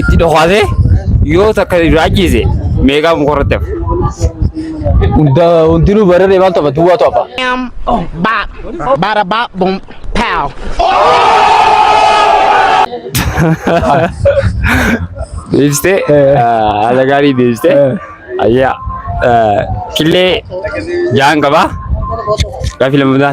itti dhokaasee yoo takka irraa ajjeese meeqaa mukarratti hafa. Hunda hundinuu bararee maal taphatu duwwaa tapha. Bam, boom, bop. Bada bop, boom, pow. Deebistee haala gaarii deebistee ayyaa killee jaan qabaa gaaffii lammataa.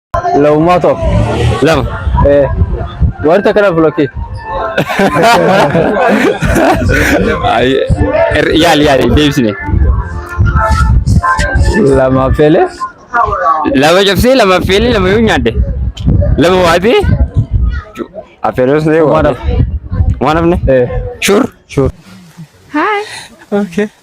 Laummaa too. Lama. Eh. Warri takka na blokkii. Ay, er- Yaali yaali deebisne. Lama feelee. Lama cabsee lama affeelee lama yoo nyaadde. Lama waatee. Affeeloos ta'e Waan waatee. Waan hafne. Eh. Shuur. Shuur. Hi. Okay.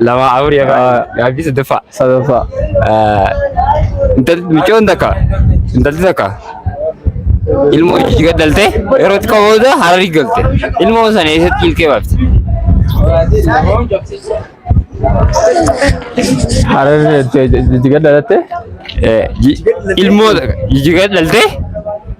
Lama afur ya Haa. Gaaffii sadaffaa. Sadaffaa. Intalli micoon takka intalli takka ilmoo ishii gad dhalte yeroo xiqqoo booda hararii galte ilmoo sana eessatti ilkee baafte. Hararri jijjiga dhalatte. Eh, ji- Ilmoo takka jijjiga dhalte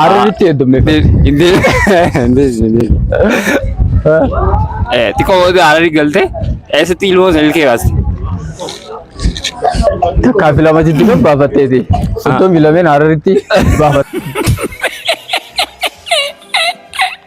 Hararitti heddumne. Xiqqoo booda hararii galte eessatti ilmoo sana ilkee baaste. Takkaa fi lama jiddu kan baafatteeti. Soddomii lameen hararitti baafatte.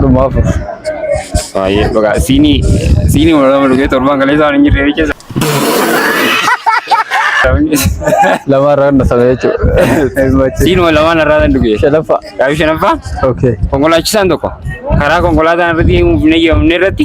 Dhuma afur. Baay'ee bagaa siinii siinii wal lama dhugee torbaan galee isaan hin jirre jecha. Lama irraa kan dhasame jechuudha. Siin wal lamaan irraa kan dhugee. Shalaffaa. Gaafii shanaffaa Okay. konkolaachisaan tokko karaa konkolaataan irratti hin eeyyamamne irratti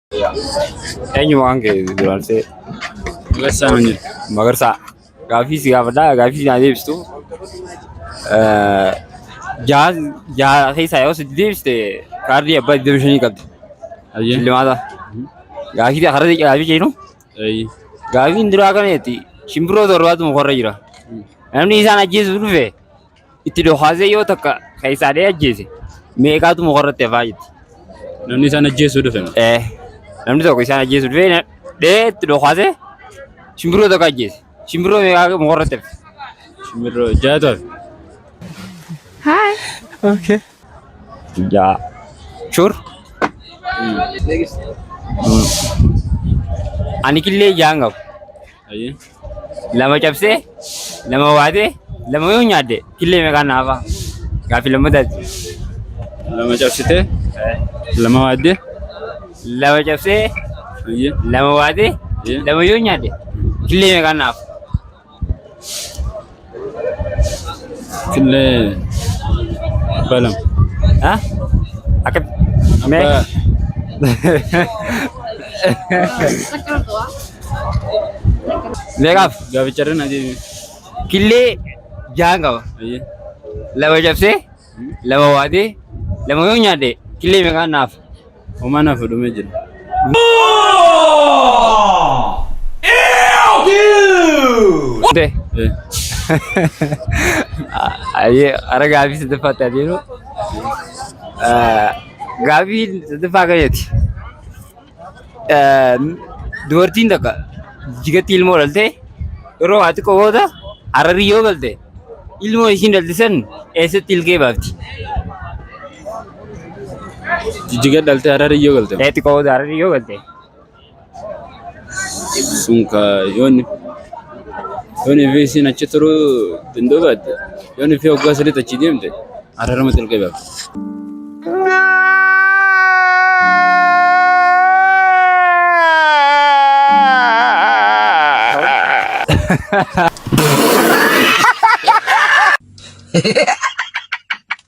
Eenyu maqaan kee duraansee? Magarsaa nuun jedhu. Magarsaa. Gaaffii si gaafadha. Gaaffii naa deebistu. Jaha jaha keessaa yoo sitti deebiste kaardii abbaa 25 qabdi. Ayyee. Shillimaata. Gaaffii karaa deeqee gaaffii jennu. Ayyee. Gaaffiin duraa kana jetti shimbiroo torbaatu mukarra jira. Namni isaan ajjeesu dhufe itti dhokaasee yoo takka keessaa dhee ajjeese meeqaatu mukarratti hafaa jetti. Namni isaan ajjeesuu dhufe. Eh, namni tokko isaan ajjeesu dhufee na- dhee itti dhokaasee shimbiroo tokko ajjeese. Shimbiroo meeqaa mukarratti hafe. Shimbirroo jaatu hafe. Hi. Okay. Ja. Sure? Next. Ani killee jaan qabu. Ayyee. Lama cabsee, lama waatee, lama yoo nyaadde killee meeqaan naafa? Gaaffii lammataati. Lama cabsitee. Lama waaddee. Lama cabsee, Ayyee. lama waatee, Ayyee. lama yoo nyaadde killee meeqaan naafa? Killee abbaa lama. Ha? Akka mee Abbaa meeqaaf gaafacharra na deebi. killee jahan qaba. Ayyee. Lama cabsee, lama waatee, lama yoo nyaadhe killee meeqaan naaf? Homaa naaf dhumee jira. Dee. Eh, Ayyee ara gaafii sadaffaatti adeemu. Gaafii sadaffaa akkanaati. Dubartiin takka jigatti ilmoo dhaltee yeroo waa xiqqoo booda hararii yoo galte ilmoo ishiin dhalte san eessatti ilkee baafti? Jijjiga dhalte harari yoo galte. Ee xiqqoo booda hararii yoo galte. Sun ka yooni. Yooni fi isin achi turu dandoo baadde. Yooni fi hoggaa sadiit achi deemte. Hararama xilqee baaf.